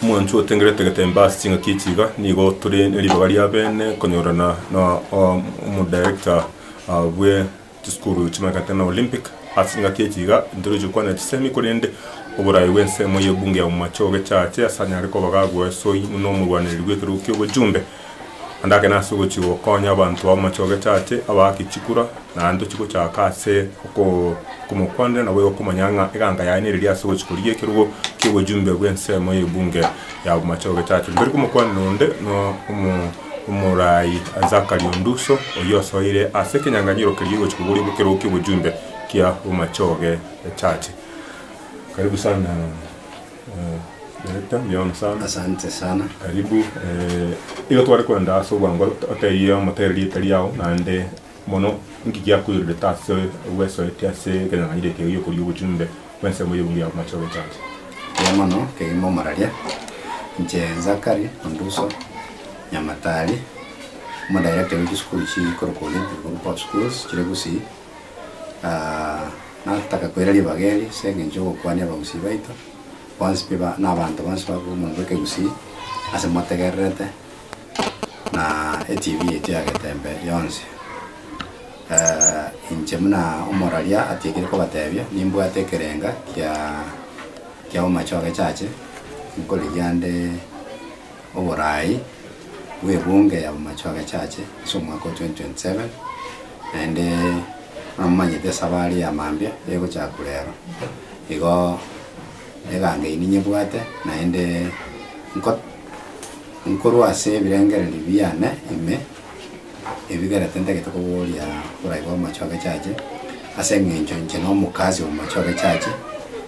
Omwancho otengerete getemba ase ching'aki echi iga nigo tore neribaga riabene konyorana na omodarector bwe chisukuru chimanyekanete na Olympic. Ase ching'aki echi iga ntoroche kwana chisemi korende oboraai bw'ensemo y'ebunge ya omomache ogechache asanyare koba gagwesoi buna omorwanereri bw'ekerogo ki'obochumbe. Naende agakena ase ogochia gokonya abanto b'amache Ogechache, abaake chikura, naende tochigochaka ase oko okomokwanera, naboigo okomanya ng'a eganga yaye nereria ase ogochia korigia ekerogo ki'obojumbe bw'ensemo y'ebunge y'amache Ogechache. Rirorio omokwaneri onde no omo omoraai Zachary Onduso, oyio osoire ase ekenyanganyiro keria egochia koboria ekerogo ki'obojumbe ki'amache Ogechache. Karibu sana. Director mbiao sana. Asante sana. Karibu eh, igo tware kwenda ase obwango ot- otebie omotere rieta riao naende mono inki giakoirorete ase gwesoete ase ekeng'ang'anire eke giokoria obochumbe bw'ensemo y'ebiungu ya Bomache Ogechancha. Mbuya mono, kegima omararia. Inche Zakari Onduso Nyamatari, omo director bw'echisukuru echi chikorokwa Olympic Group of Schools chire Gusii. Nataka koira ribaga eri ase engencho y'ogokwania abagusii baito bonsi pi ba, na abanto bonsi babe omonto bw'ekegusii ase motegererete, na eTV yaito ya getembe yonsi. Inche buna omoraria atiekire kobatebia, nimbwate ekerenga kia, kia omache o gechache, nkorigia nde. Oboraai bw'ebunge y'abamachu agachache ase omwaka o 2027, naende namomanyete esabari ya mambia egochaka korwa ero. Igo eganga eyio ninyebwate, naende nko nkorwa ase ebirengererio biane ime Ebigera tintagete koboria borai bw'amache agechache, ase engencho inche nomokasi omomache agechache,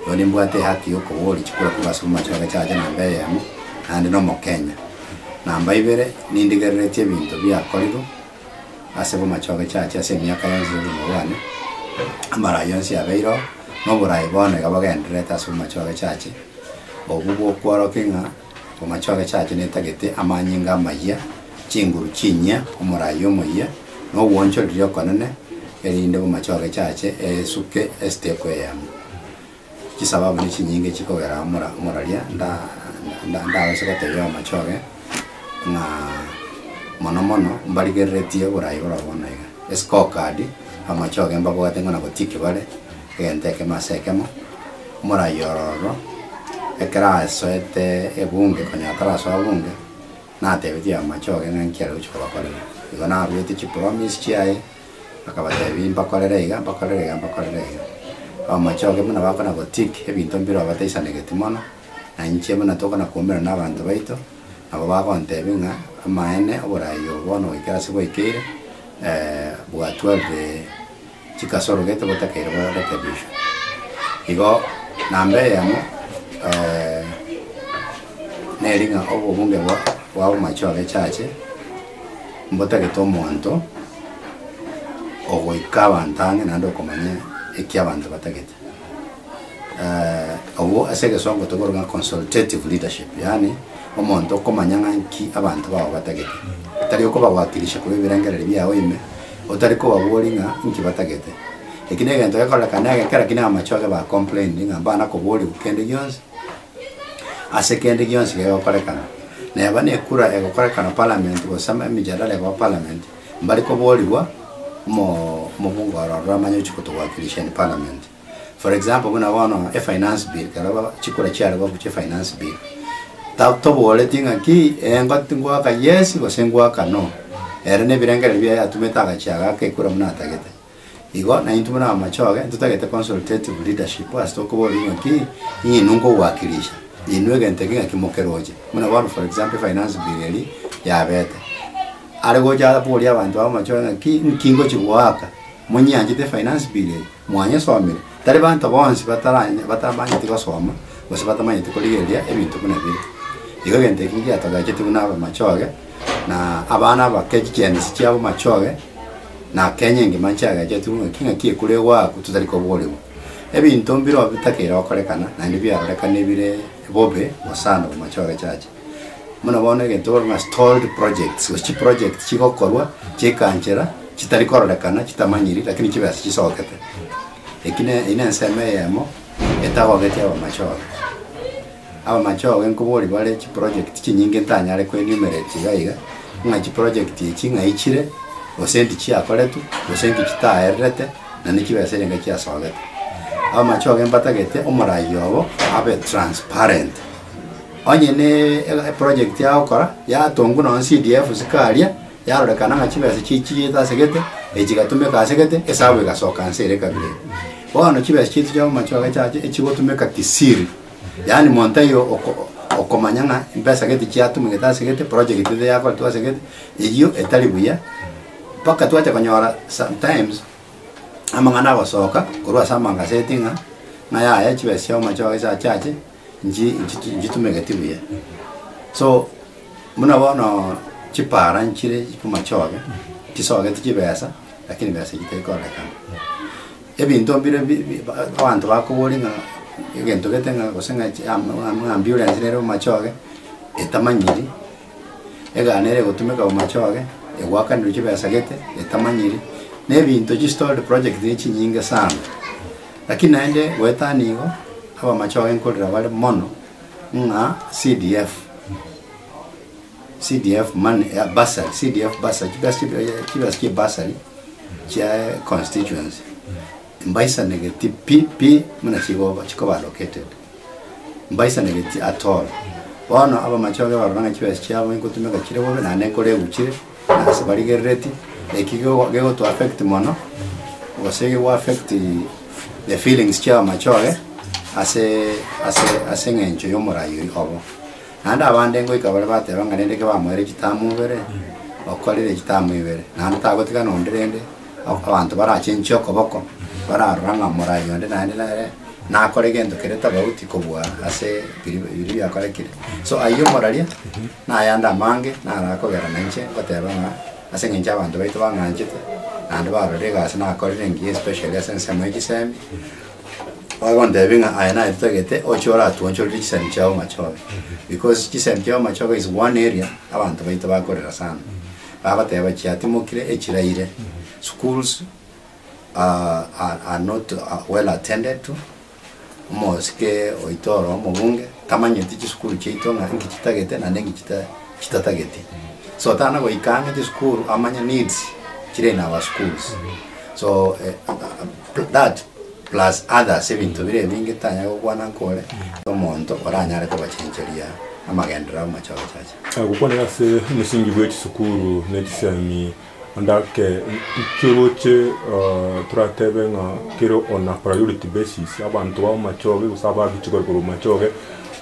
igo nimbwate ehaki yokoboria chikura korwa ase omomache agechache namba eyemo, naende nomokenya. Namba ibere, nindigerereti ebinto biakorire ase omomache agechache ase emiaka yonsi yobogima bwane, amarai yonsi yabeire oo, noborai bono iga bagendererete ase omomache agechache, obwo bokworokia ng'a. Omochie ogechacha netagete amanyinga amayia, chinguru chinyia, omoraia omoyia, na obwanchwa riria okonene, erinde bomochie ogechache eesuke esiteko eyemo. Chisababu nechinyinge chikogera omora omoraria nda nda ndagose gotebia omochie oge ng'a mono mono mbarigereretie oboraai borobwo buna iga. Escorecard, omochie oge mbabwate ng'a nabotiiki bare. Egento ekemo ase ekemo, morai ororo, ekero asoete ebunge, konya atarasoa bunge, natebetie abamache oge ng'a nki aregochia kobakorera. Igo naruete chipromise chiaye, akabatebia mbakorere iga, mbakorere iga, mbakorere iga. Abamache oge buna bakona gotick ebinto mbirobia bataisanegeti mono, na inche buna tokona kwaumerana na abanto baito, nabo bagontebia ng'a amaene oborai obo bono goikera ase bwaikeire, bwatwarire. chigasorogete gotakeire goretebiswa. Igo nambere yamo neri ng'a obobunge bwa bwa omomache obe chache mbotagete omonto ogoika abanto ang'e naende okomanya eki abanto batagete. Obwo ase egesongo tokorwa ng'a consultative leadership, yaani omonto okomanya ng'a nki abanto bao batagete. Tari okobawakilisha korwa ebirengererio biao ime, otari kobaboria ng'a nki batagete. Eki na egento gekorereka na egekera ki na amache ore ba complain ng'a mbana koboriwu kende gionsi, ase kende gionsi gegokorekana. Neba na ekura egokorekana parliament gose emejadala ekoba parliament, mbari koborigwa mo- mobunga oro ororo amanye ochi kotowakilisha in parliament. For example buna bono e finance bill ekero ba- chikura chiarebo gochia e finance bill, ta- toboreti ng'a ki engo ngoaka yes gose ngoaka no, ere na ebirengereri biaye atumete agachia agaaka ekura buna atagete. Igo na intwe buna amachoge ntotagete consultative leadership ase tokoboria ng'a ki, inye inwe nkogoakilisha, inwe egento eke ng'aki mokeroche. Buna bono for example e finance bill eria yabete, are gocha aborie abanto aba amachoge ng'a ki, nki ngochi goaka? Monyeanchete e finance bill eye? Mwanyesomire, tari banto bonsi bataranya, batamanyeti gosoma, gose batamanyeti korigereria ebinto buna bire. Igo egento eki ngiatogecheti buna abamachoge, na abana abake chigenesi chi'abamachoge, na Kenya engima nchiagechetwe ng'aki ng'aki ekura egoakwa totari koboregwa. Ebinto mbirobio bitakeire gokorekana, naende biarorekane bire bobe gose ande abamachoge chacha. Buna bono egento bakorwa ng'a stalled projects, gose chiproject chigokorwa chi'ekanchera chitari kororekana chitamanyiri lakini chibe ase chisogokete. Eki ne- eyio nensemo eyemo etagogeti abamachore. Abamachore nkoboria bare chiproject chinyinge ntanyare ko enumerate iga iga, ng'a chiproject echi ng'ai chire, gose inki chiakoretwe, gose inki chitaererete, naende chibe ase egeika chiasogokete. Abamachore mbatagete omoraia obo abe transparent. onye ne e- eproject yagokora yatongwa nonya CDF isiko aria, yarorekana ng'a chibesa chichiete ase gete, echi chigatumeka ase gete, esabu egasoka nse ere kabere. Bono chibesa chiaito chia amache ogo echache echigotumeka kisiri, yaani monto taiyo oko- okomanya ng'a mbesa gete chiatumegete ase gete, project gete yakoretwe ase gete, eyio etari buya, mpaka twacha konyora sometimes amang'ana agosoka korwa ase amagaset ng'a, ng'a yaya chibesa chia amache ogo echachache. Nchi nchitu- nchitumegeti buya so buna bono chipara nchire chimachoge chisogeti chibesa lakini besa eye teri korekana ebinto mbire bi- bi- ba- abanto bakobori ng'a egento gete ng'a gose ng'a chi- am- am- ambulance nere omachoge etamanyiri. Egaana ere egotumeka omochie oye, egwakanirwe chibesa gete etamanyiri, na ebinto chi stalled project ne chinyinge sana. Lakini naende goeta nigo abamache oye nkorera bare mono ng'a CDF CDF money ya bursary, CDF bursary, chibesa chi- eh, chibesa chie bursary chia constituency mbaisanegeti pi pi buna chigo chikoba allocated. Mbaisaneretie Ator. Bono abamachoge barora ng'a chibesa chiabo nkotumeka chire bobe naende nkoregwe chire, na ase barigerereti, eki gego- gegotu affect mono, gose gego affect the feelings chia abamachoge ase ase ase eng'encho y'omorai oyi obo. Naende abande ngoika bare bateba ng'a rende ki bamoeire chitamu ibere, okorire chitamu ibere, naende tagotigana onde rende. Abanto barachenchie okoboko, bararora ng'a morai onde naende nere nakore gento kere tofauti kobua ase biri biria biakorekire. So ayio omoraria nayande amange narakogera nainche ngoteba ng'a ase eng'encho abanto baito bang'anchete naende barorire egasi nakorire engiya especially ase ensemo ya chisemi, bagontebia ng'a aye naye totagete oche oratuonchorere chisemi chiao machobi because chisemi chiao machobi is one area abanto baito bakorera sana. Babateba chiatimokire echiraire, schools are are not well attended to, omosike oito oro omobunge tamanyeti chisukuru chiaito ng'a inki chitagete naende inki chita chitatageti. So tana goika ang'e chisukuru amanye needs chire in our schools. So that plus others ebinto bire ebinge tanyare gokwana nkore omonto oranyare kobachencheria amagenderero amachache chacha. Gokwanera ase omosingi bwe chisukuru ne chisemi onde ake keroche toratebe ng'a kere on a priority basis abanto ba amachoge gose ababiche korwa korwa amachoge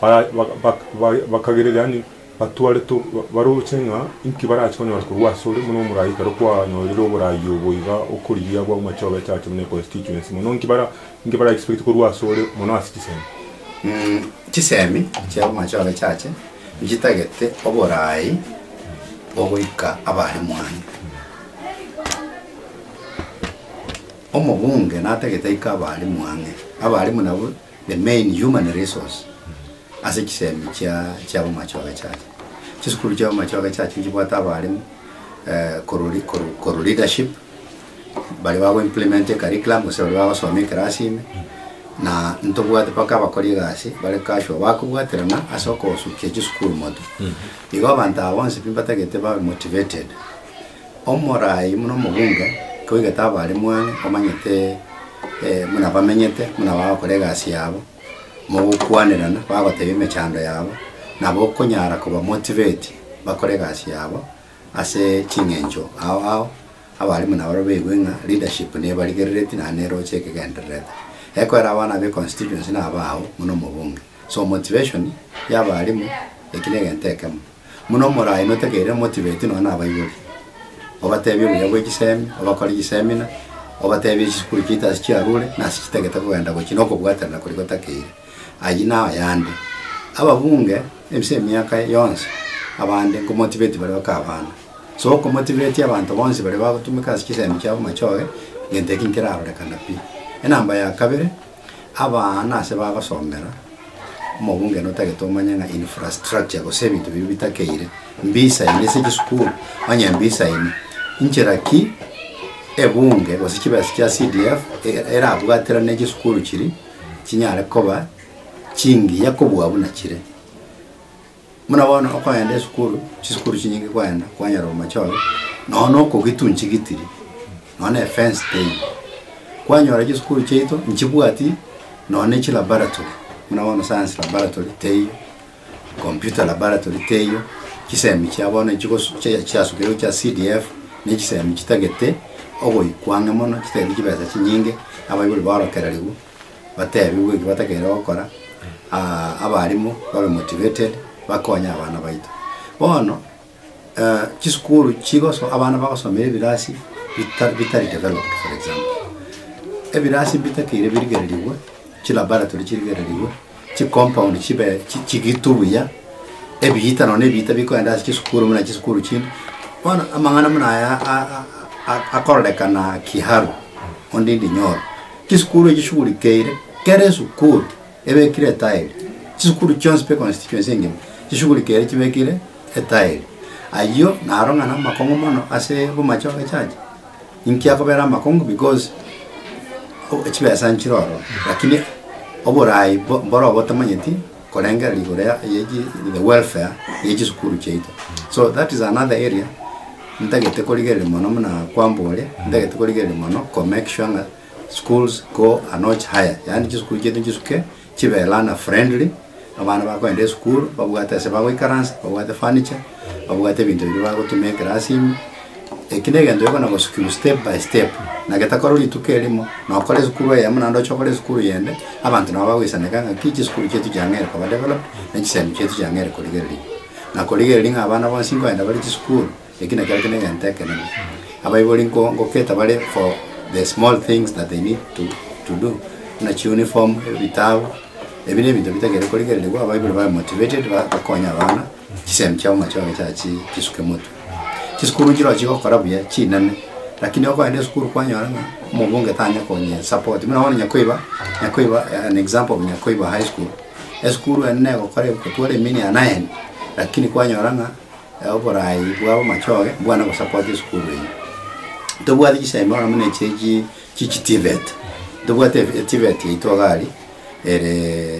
ba- ba- bak- ba- bakagerera yaani batwarete baroche ng'a inki barache konyora korwa ase ore buna omoraika ere kwanyorire oborai obo iga okorigia abwo amachoge echache buna econstituency mono inki bara Inki bara expect korwa ase ore mono ase chisemi? Mh, chisemi chiabo mache ore chache nchitagete oboraai ogoika abare mwane. Omobunge natagete aike abare mwang'e. Abarimu nabo the main human resource ase chisemi chia chiabo mache ore chache. Chisukuru chiabo mache ore chache nchibwate abarimu eh, korwa ri- korwa korwa leadership, baria bago implement ecurriculum gose baria bagosoma ekerasi ime, na ntobwate mpaka abakori egasi bare casual bakobwaterana ase okosukia chisukuru moto. Igo abanto aba bonsi pi mbatagete babe motivated. Omorai buna omobunge toigete abe are mwane omanyete eh, buna bamenyete, buna bagokora egasi yabo, mogokwanerana, bagoteba emechando yabo, nabo okonyara koba motivate bakore egasi yabo ase ching'encho ao ao Abarimu nabarabwo baigwe ng'a leadership nebarigerereti naende neroche ekegendererete. Ekoera abana be constituency nabao buna omobunge. So motivation yabarimu eki negento ekemo. Buna omorai notegeire motivate nonya nabaibori. Obatebie obuya bwe chisemi, obakore chiseminar, obatebie chisukuru chiaito ase chiarure nase chitagete kogenda gochia nokobwaterera koria gotakeire. Ayio nao yande. Ababunge ase emiaka yonsi abande nkomotivate bare bake abana. Sokomotiberetie abanto bonsi baria bagotumeka ase chisemi chiabo machoge, gento eki nkerarorekana pi. Enamba ya kabere, abana ase bagosomera, omobungene otagete omanye ng'a infrastructure gose ebinto biria bitakeire mbisaini ase chisukuru, onye mbisaini, inchera ki ebunge gose chibesa chia CDF e- erabwaterane chisukuru chiria chinyare koba chingiya kobua buna chire. Buna bono okoenda esukuru, chisukuru chinyinge kwaenda, kwanyora omochoro, nonya na okogitunchi gitiri, nonya na efence teiyo. Kwanyora chisukuru chiaito nchibwati nonya na echilaboratory, buna bono science laboratory teiyo, computer laboratory teiyo, chisemi chia bono chigosu- chia- chiasukeirwe chia CDF, na echisemi chitagete ogoikwa ang'e mono, chitagete chibesa chinyinge, abaibori baorokererigwe. batebigwe eki batakeire gokora, ah, abalimu babe motivated bakonye abana baito. Bono eh, chisukuru chigoso abana bagosomera ebirasi bita- bitari developed for example ebirasi bitakeire birigererigwe, chilaboratory chirigererigwe, chicompound chibe chi- chigitu buya, ebiita nonya na ebiita bikoenda ase chisukuru buna chisukuru chinde. Bono amang'ana buna aya a- a- a- akorekana Kiharu, Ondindi Nyoro, Chisukuru echi chishugurikeire kera esukuru ebekire etairi. Chisukuru chionsi pe constituency engima chishugurikeire chibekire etairi. Ayio naro ng'a namakong'u mono ase bomache bagechacha. Inki akobera amakong'u? Because chibesa nchire ororo lakini oboraai mboro obotamanyeti. korengera rigoro ya ye chi the welfare ye chisukuru chiaito so that is another area ntagete korigereria mono muna kwambore ntagete korigereria mono ko make sure ng'a schools go a notch higher yaani chisukuru chiaito chisuke chibe learner friendly abana bakogenda esukuru babwate ase bagoikaransa babwate furniture babwate ebinto biria bagotumia ekerasini. Eki negento gekona gosukigwa step by step, na getakore rituko erimo, na okore esukuru eyemo naende oche okore esukuru eyende, abanto nabo bagoisaneka ng'aki chisukuru chietu chiang'eire koba developed, na chisemi chietu chiang'eire korigererigwa. Na korigereria ng'a abana bonsi nkoenda bare chisukuru, eki nakero kende egento ekenene. Abaibori nko- ngoketa bare for the small things that they need to, to do, buna chiuniform, ebitabu, ebi nebinto bitagete korigererigwa, abaibori babe motivated, ba- bakonye abana. Chisemi chiabo machoge chiachi chisuke motwe. Chisukuru nchirochio chigokora buya chinene lakini okoenda esukuru kwanyora ng'a omobunge tanya konye support buna bono Nyakoiba Nyakoiba an example of Nyakoiba high school esukuru ende negokora egokotwara emini ya nine lakini kwanyora ng'a oborayi bwabo machoge mbwana gosupport esukuru eyio. Ntobwati chisemi bono buna echi echi chichi TVET ntobwati TVET yaito iga aria ere.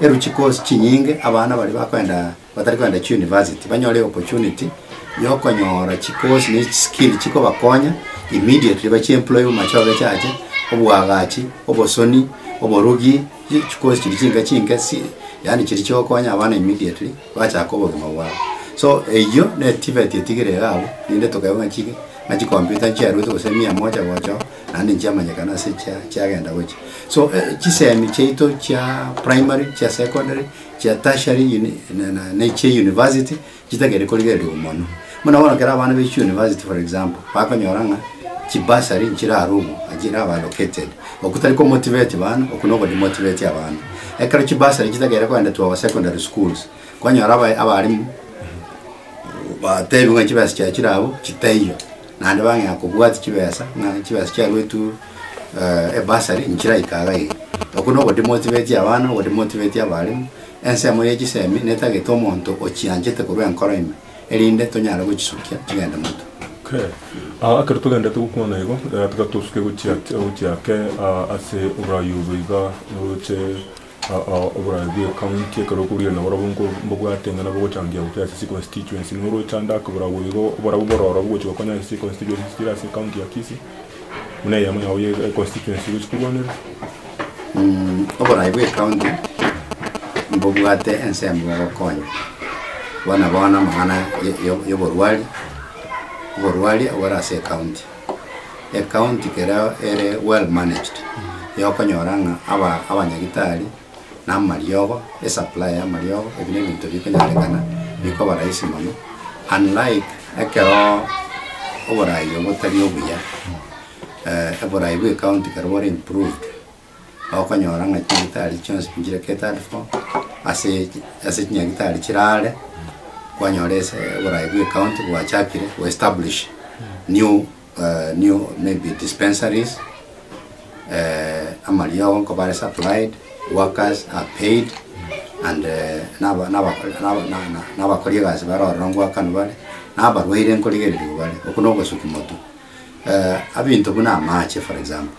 Eruchi cause chinyinge abana baria bakoenda batari koenda chiuniversity banyore eopportunity yokonyora chi course ne chi skill chikobakonya immediately bachi employed mumachoge chiache, obwagachi, obosoni, oborugi, chi chi course chiria chinke chinke si yaani chiria chigokonya abana immediately bachaka obogima bwabo. So eyio ne TVET etigire iga abwo, rinde tokaigwa ng'a chige ng'a chicomputer nchiaruete gose mia moja gocha oo. Naende nchiamanyekana ase echia chiagenda gochia. So chisemi chiaito chia primary, chia secondary, chia tertiary uni, na, na, na echia university, chitagete korigererigwa mono. Buna bono ekero abana baichire university for example, bakonyora ng'a chibursary nchire aro obo, na chire aba allocated. Okwo tari komotivate bana, okwo noko demotivate abana. Ekero chibursary chitagete kogenda to our secondary schools, kwanyora aba, abalimu, batebiwe ng'a chibesa chia chire abwo, chitaiyo. Naende bang'ea kobwati chibesa, ng'a chibesa chiaruetwe ebasari inche chiraika iga iga. Okwo noboria motibetie abana, oboria motibetie abalimu. Ensemo ye chisemi netagete omonto ochianchete korwa enkoro ime, erinde tonyare gochisukia chigende motwe. Okay. Ah, ekero togenderete gokwana igo, eh, tiga tosuke gochia, gochia ake, ah, ase oboraai obo iga, oroche. Aa oborabe bw'ecounty ekero okoburira nabarobwo nko mbabwate ng'a nabogochangia gochia ase chiconstituency noro ochande ake borabu igo oborabu bore orobu gochia gokonya ase chiconstituency chire ase ecounty ya Kisii buna eyemo yao ya econstituency gochia korwanera. Oborabe bw'ecounty mbobwate ensemo ya ogokonya bono bono amang'ana ya- ya- yoborwari oborwari obore ase ecounty. ecounty kereo ere well managed, yokonyora ng'a aba abanyagitari, na amariogo, esupply ya amariogo, ebi na ebinto bikonyarekana, bikoba rahisi mono, unlike ekeroo oborayi obo botari obuya, eeh oborayi bwa ecounty kerobwo bore improved. okonyora ng'a chinyagitari chionsi nchire catered for, ase chi ase chinyagitari chire aare, kwanyora ase oborai bwa ecounty gwachakire go establish new eh, new maybe dispensaries, eh, amariogo nkoba are supplied, workers are paid, and eh, naba- naba- naba- na- na- nabakori egasi bare ororo ngoakanu bare, nabarwaire nkorigereria bare, oko nogosukuma tu. Eh, abinto buna amache for example.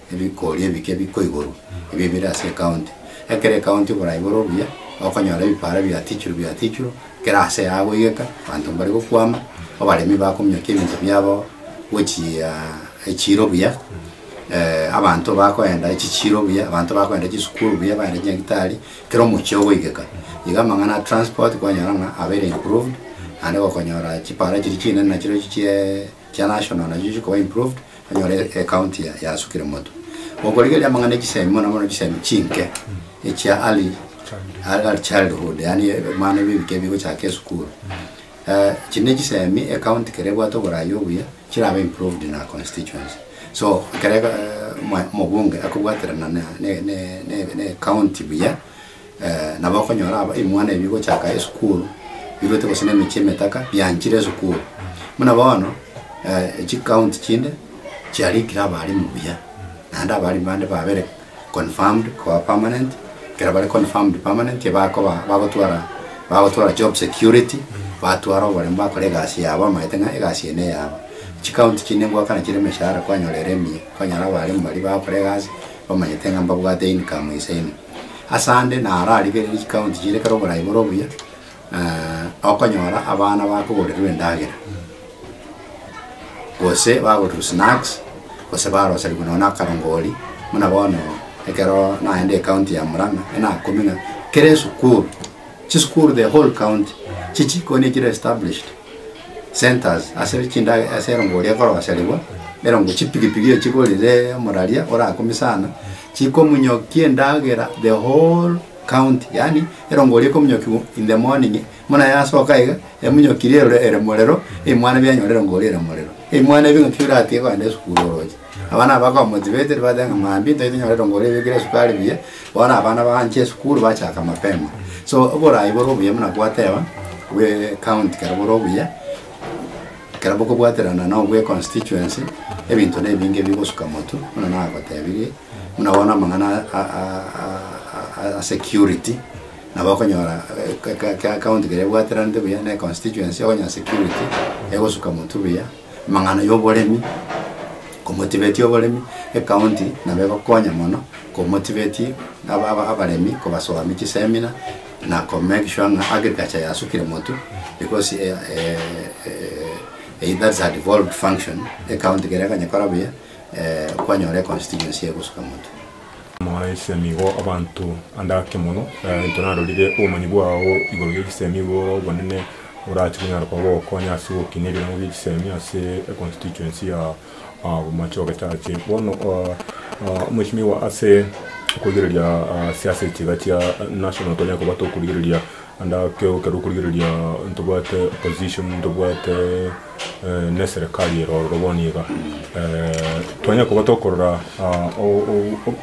Ebikori ebike biko igoro, ebi ebire ase ekaunti. Ekero ekaunti bora igoro buya, okonyora ebipaara biatichirwe biatichirwe, kera ase yao goigeka, abanto mbare gokwama, abaremi bakominyokia ebinto biabo gochia echiro buya, abanto bakoenda echichiro buya, abanto bakoenda chisukuru buya, baende chinyagetari, kera omochie ogoigeka. Iga amang'ana a transport kwanyora ng'a abeire improved, naende gokonyora chipaara chiria chinene nachirochio chiaaa. Chia national nacho chikoba improved onyore ecounty yasukire moto. Gokorigereria amang'ana echisemi mono mono chisemi chinke echia early early childhood yaani ebana ebio ebike bigochaka esukuru. Eh, chiri nechisemi ecounty kere ebwate oborayi obuya chirabe improved in our constituency. So ekero eh, omobunge akobwaterana ne ne ne ne county buya Nabo okonyora aba ebimwana ebi bigochaka esukuru biruete gose nemechie emetaka bianchire esukuru. Buna bono chicounty chinde chiarikire abalimu buya naende abalimu bande babere confirmed koba permanent. Ekero bare confirmed permanent bakoba bagotwara bagotwara job security batwara oboremu bakore egasi yabo bamaete ng'a egasi eye neyabo. Chicounty chinde ngoakana chire emeshahara kwanyora ere emiya, kwanyora abalimu baria bagokora egasi bamanyete ng'a mbabwate income ase ime. Ase ande nararigererie chikaunti chiria ekero oborai bore obuya, eh, okonyora abana bakogorirwa endagera, gose bagorirwa snacks, gose baroserigwa nonya na akarongori, buna bono ekero naende ekaunti ya Murang'a, enakomenya, kera esukuru, chisukuru the whole county, chichi ko nigo chire established, centres ase chindage ase erongori ekoroserigwa, erongo chipigipigi echigorire omoraria orakumia sana. chikomunyokia endagera the whole county, yaani erongo eria ekomunyokigwa in the morning, buna yasoka iga, emunyokiri erore ere morero, ebimwana bianyore erongo eria ere morero. Ebimwana ebi ng'aki biratiga kogenda esukuru oroche? Abana aba bakaba motivated, bateba ng'a maambia ntari tonyore erongo eria ebekire esukari buya, bono abana baanche esukuru bachaka mapema. So oboraai bore obuya buna gwateba, bw'ecounty kare bore obuya. Ekero bokobwaterana nobwe constituency, ebinto nebinge bigosuka motu, buna nagotebirie, buna bono amang'ana a security, nabo okonyora eke county keria ebwateranete buya ne constituency, okonyora security egosuka motu buya, amang'ana ya oboremi, komotiveti oboremi, ecounty nabo egokonya mono komotiveti abaremi kobasoami chiseminar, na komekishwa ng'a agriculture yasukire motu because either is a devolved function ecounty kere eganyekora buya kwanyora econstituency egosuka motu. Moise nigo abanto ande ake mono, into narorire obomanyi bwao igoro y'echisemi igo ore obonene orache konyara koba ogokonya ase ogokina ebirango bi'echisemi ase econstituency ya. Omochie ogochache bono omoisimiwa ase okorigereria ase ase chiga chia national tonyare koba tokorigereria ande ekero okorigereria ntobwate opposition ntobwate neserikari ere ororo bono iga twanyare koba tokorora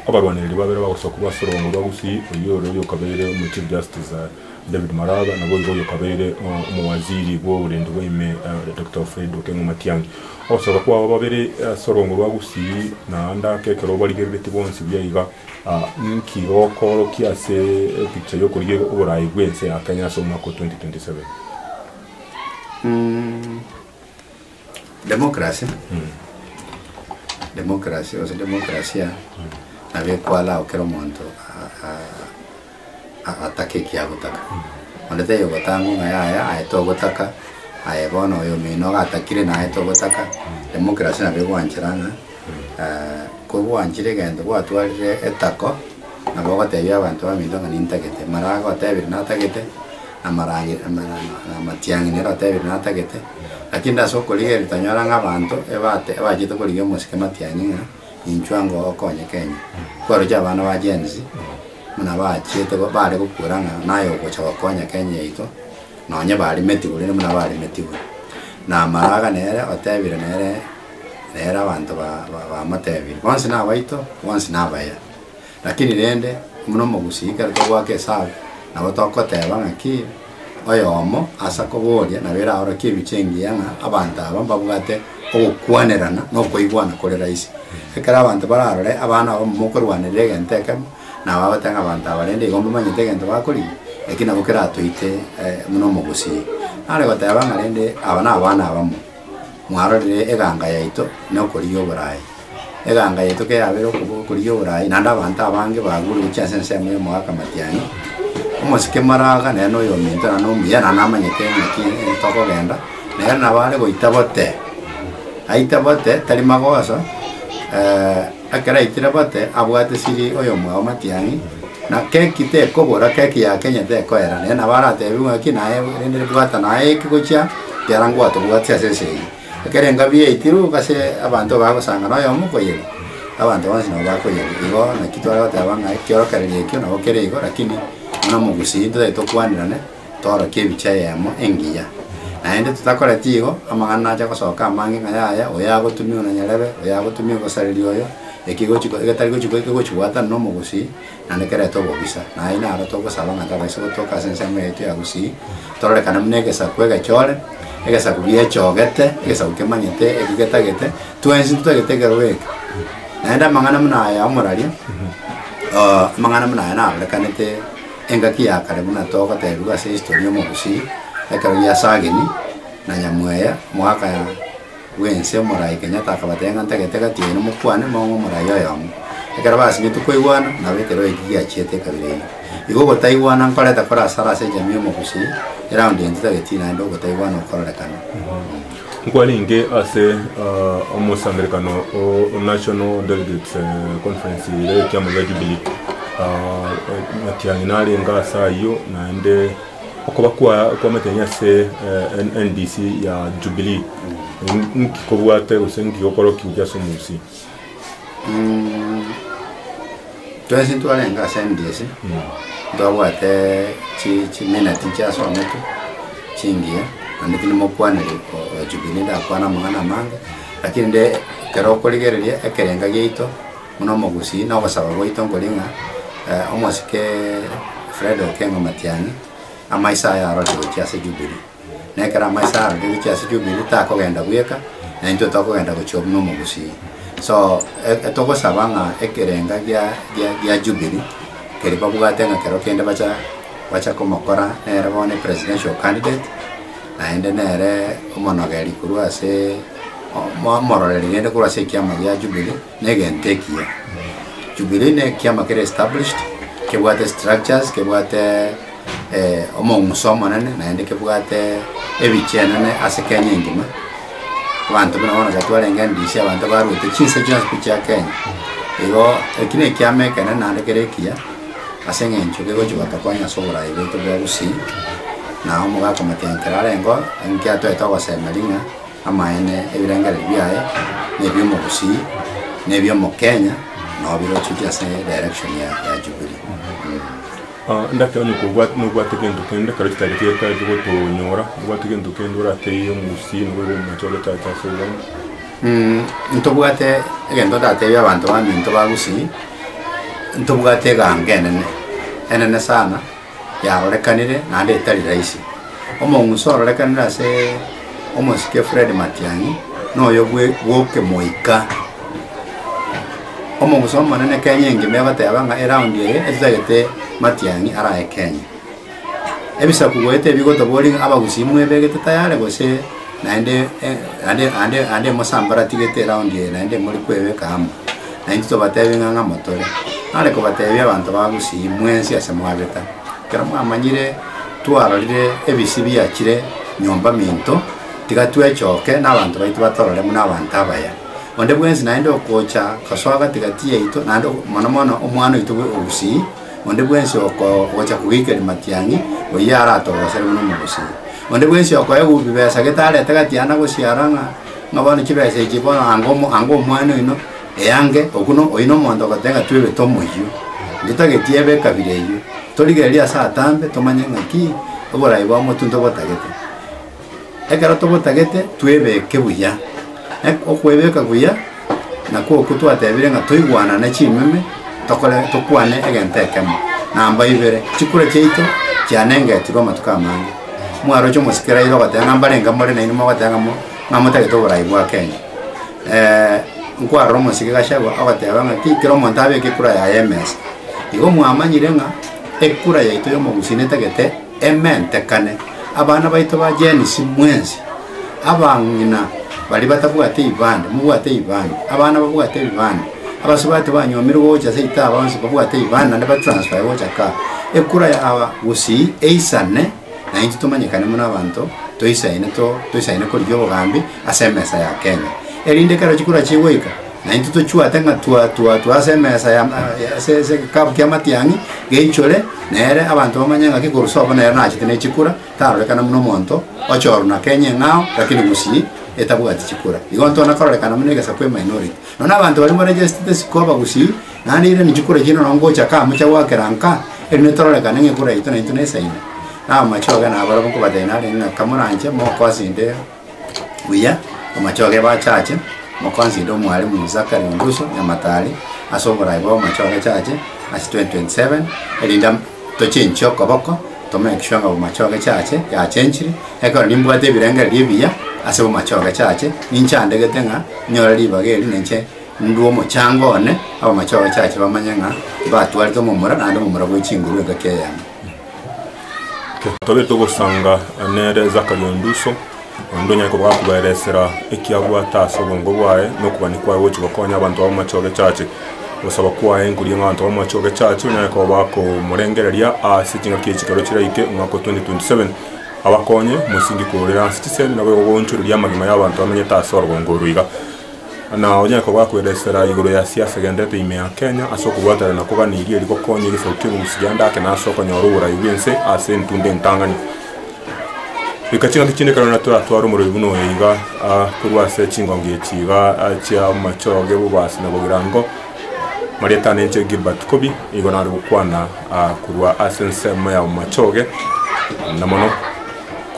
abarwanereri babere bagosokwa ase orogoro rwa gusii oyio ore oyokabeire omochief justice. David Maraba, naboigo oyokabeire omowaziri bw'oborenti bwa ime Doctor Fred Okengo Matiangi. Ogosoka kwabo babere ase orongo rwa Gusii naende ake ekero barigereretie bonsi buya iga, inki gokoorokia ase epicha y'okorigia oboraai bw'ense ya Kenya ase omwaka o 2027? Democracy, democracy gose demokrasia nabo ekwara ao kera omonto a- a- agataka ekiagotaka. Onde taiyo ogotangwa ng'a yaya aye togotaka, aye bono oyo omino iga atakire naye togotaka. Democracy nabo egwanchera ng'a eh, kogwanchire egento gwatwarire etako, nabo ogotebia abanto baminto ng'a nintagete. Mara agotebire natagete, amarange- ama- amatiang'ina ere otebire natagete. Lakini ase okorigereria tanyora ng'a abanto ebate ebachete korigia omosike matianye ng'a inchwe ango okonyeka ime. Kwaroche abana ba Gen Z buna bachiete go- bare gokuera ng'a naye ogocha gokonya Kenya yaito nonye barimetigwe rende buna barimetigwe. Na amaraga nere otebire nere nere abanto ba- ba- bamotebirie. Bonsi nabaito, bonsi nabaya. Lakini rende, buna omogusii kare togoaka esabu, nabo tokoteba ng'aki oyomo ase akoboria nabo eraorokie ebiche engiya ng'a abanto aba mbabwate ogokwanerana na okoigwana kore rahisi. Ekero abanto bararore abana abamo mokorwanerera egento ekemo, nabo bagoteba ng'a abanto aba rende igo mbamanyete egento bakorigia, eki nabo keratoite eh, buna omogusii are goteba ng'a rende aba nabana abamo. Mwarorire eganga yaito na okorigia oboraai. Eganga yaito keyabeire okobo- okorigia oboraai, naende abanto abange bagure gochia ase ensemo y'omogaka matiani, omosike maraga nere na oyominto naende omuya, naende namanyete ng'aki ere tokogenda, nere nabo are goita bote, aite bote tari magoso. Ekero aikire bote abwate siri oyomwao matiang'i, na keki tekobora, keki ya Kenya tekoera, naye nabo aratebi ng'aki naye rende bwata naye eki gochia kiara ngwatobwatia ase ense eye. Ekero engabi yaitirwe ase abanto bagosanga noyomo koyerwa, abanto bonsi nabo bakoyerwa. Igo naki tware goteba ng'a ekiorokererio ekio nabo kere igo, lakini buna omogusii ntitari tokwanirane. Torokie ebichie eyemo engiya, naende totakoreti igo, amang'ana nache gosoka amange ng'a yaya, oyo agotumigwe na nyarebe, oyo agotumigwe gosareria oyo, eki egochiko, egetari gochiko, eki egochibwata na omogusii, naende kerete obobisa. Na aye naro togosaba ng'a tabaisa gotoka ase ensemo yaito ya gusii, tororekane buna egesaku egechore, egesaku giechogete, egesaku kemanyete, eki getagete, twensi ntitagete ekerogo eke. Naende amang'ana buna aya amoraria, amang'ana buna aya narorekanete. Engaki ya kare buna togotebiwa ase history y'omobusii, ekero giasagini na Nyamweya mwaka ya bwense omorai Kenyatta akabatebia ng'a ntagete egati yaino mokwane mong'e omorai oyomo. Ekero basinyeti kwaigwana nabo ekero eki giachiete ekabira eyio. Igo ogotaigwana nkorete kore asara ase ejamii y'omobusii, eround eye ntitageti naende ogotaigwana okororekane. Nkwarenge ase omosangererekano o National Delegates Conference ere y'ekiama gia Jubilee. Engaki yane narenge ase ayio naende okoba kw'amateni ase NDC ya Jubilee. Nki kobwate gose nki gokoroki gochia ase omobosio? twensi ntwarenge ase emegese ntwabwate chi chimina tinchiasomete chingiya naende tinimokwaneri oo jubilee ndakwana amang'ana amange lakini nde ekero okorigereria ekerenga giaito buna omogusii na ogosaba gwaito nkori ng'a omosike Fred Okengo Matiang'i amaiso aye aroche gochia ase jubilee. na ekero amaiso arorire gochia ase Jubili, takogenda bweka, na intwe tokogenda gochia buna omogusii. So, e- togosaba ng'a ekerenga gia, gia, gia Jubili, keri babwate ng'a kero kende bacha, bacha komokora nere bono epresidential candidate, naende nere omonogeri korwa ase, o- mo- omororeri rende korwa ase ekiama gia Jubili. Negento ekiya, Jubilee ne ekiama kere established, kebwate structures, kebwate omong'uso omonene, naende kebwate ebiche enene ase Kenya engima. Abanto buna bono tiga twarenge NDC, abanto baruete chinse chionsi chia Kenya. Igo eki ne ekiama ekenene naende kere ekiya, ase eng'encho kegochi gotokonya ase oboraai bwaito bwa Gusii, na omogakomotenyi ekero arenge oo, inki atoete ogosema ring'a. Amaene ebirengererio biaye nebiomogusii nebiomokenya nao birocheti ase direction ya ya jubilee. Endaki onye kobwate nobwate gento kende kero chitari chiaye chigotonyora obwate gento kende oratebie omogusii nigo igo omomache ogochacha ase obonge. Ntobwate egento ndatebie abanto baminto ba gusii ntobwate egango enene enene sana. yarorekanire naende etari rahisi. Omong'usa ororekanire ase omosike Fred Matiang'i noyo bwe bw'okemoika. Omong'usa omonene Kenya engima egoteba ng'a eround eye etitagete Matiang'i arae Kenya. Ebisaku goeta ebi gotoborie ng'a abagusii mwebegete tayari gose naende naende naende emosambaratigete eround eye naende mori kwebeka amo. Na intwe tobateebie ng'a ng'amo tore, nare kobateebia abanto ba Gusii, mwensi ase mwabeta. Ekero mwamanyire twarorire ebisii biachire nyomba minto, tiga twechoke, n'abanto baito batorore buna abanto abaya. Onde bwensi naende okocha gosoa gati-gati yaito, naende mono mono omwana oito bwe o Gusii, onde bwensi oko- ogocha kogeikeria matiang'i, oyio aratogosere buna Omogusii. Onde bwensi okoegwa bibesa gete arete gatiana gosiara ng'a Ng'a bono chibesa echi bono anga omo- anga omwana oino, eange okwo no- oino omonto ogoteba ng'a twebete omoyio, intwe tageti ebe ekabira eyio, torigererie ase atambe tomanye ng'aki oboraai bwa motuo ntobotagete. Ekero tobotagete, twebeke buya. Ek- okwebeka buya. na kwoku twatebire ng'a toigwanane chimeme, tokore tokwane egento ekemo. Namba ibere, chikura chiaito chianengetirwe amatuko amange. Mwaroche omosike Raila ogoteba ng'a mbarenge more nainwe mogoteba ng'a mo- ng'a motagete oborai bwa Kenya. Eh, nkwarora omosike Gachagua ogoteba ng'a ti kera omonto abeke ekura yaye emesa. Igo mwamanyire ng'a ekura yaito ya omogusii netagete ementekane. Abana baito ba Gen Z mwensi Abang'ina baria batabwate eibanda, mobwate eibanda. Abana babwate eibanda. Abasubati banyomirwe gocha ase itaaba bonsi babwate eibanda naende ba transferwe gocha kaa. Ekura yaaba gusii eisane na intwe tomanyekane buna abanto toisaine to toisaine korigia obogambi ase emesa ya Kenya. Erinde ekero chikura chigoika na intwe tochuate ng'a twa twa twa ase emesa ya ya ase ase egekabu kia matiang'i geichore nere abanto bamanye ng'a ki korwa sobo nere nachete ne chikura tarorekana buna omonto ochoorwa na kenya eng'ao, lakini gusii etabwati chikura. Igo ntona kororekana buna egesaku eminority. Nonya abanto baria moregestete sikoba gusii, naende eirane chikura echiria nonya ngocha kaa mocha goakera nka, erinde tororekane ng'a ekura yaito nainto nesaine. Namache oga nabare bokobatebi narenge ng'a kamoranche mokoa asende Buya, omochoge bachache, mokonside Omwalimu Zachary Onduso Nyamatari ase oboraai bw'omochoge chache ase 2027, erinde am tochenchie okoboko to make sure ng'a omochoge chache yachenchire, ekero nimbwate ebirengererio ebiya ase omochoge chache, ninche andegete ng'a nyore ribaga eri ninche ndue omochango one, abamochoge chache bamanye ng'a mbatwarete omomura naende omomura bwe chinguru engaki eyemo. Totagete ogosanga nere Zakaria onde uso, onde onyare koba akoberesera eki abwate ase obongo bwaye, na okobani kwaye gochi gokonya abanto b'amache o'gechache. Ogosaba kwaye nkoria ng'a abanto b'amache o'gechache banyare koba bakomorengereria ase chingaki echi chikero chiraike omwaka o 2027, abakonye mosingi korera ase chisemi, naboigo goonchoreria amagima y'abanto bamenyete ase orogongo oro iga. Ng'a onye koba kwedesera igoro ya siasa egenderete ime ya Kenya ase okobwatanera na kogania eria eri gokonya egesaku ki'engusi ya ndake na ase okonyora oborayi bw'ense ase entunda entang'ani. Rika ching'aki chinde ekero naende toratware omorori buna oyo iga korwa ase chingongi echi iga chia Omochoge, Bobasi na Bogirango, Marieta Anenche Gilbert Kobi nigo nare gokwana korwa ase ensemo ya Omochoge na mono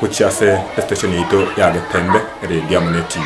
gochia ase esitesheni yaito ya Getembe Eredio amo ne Tibi.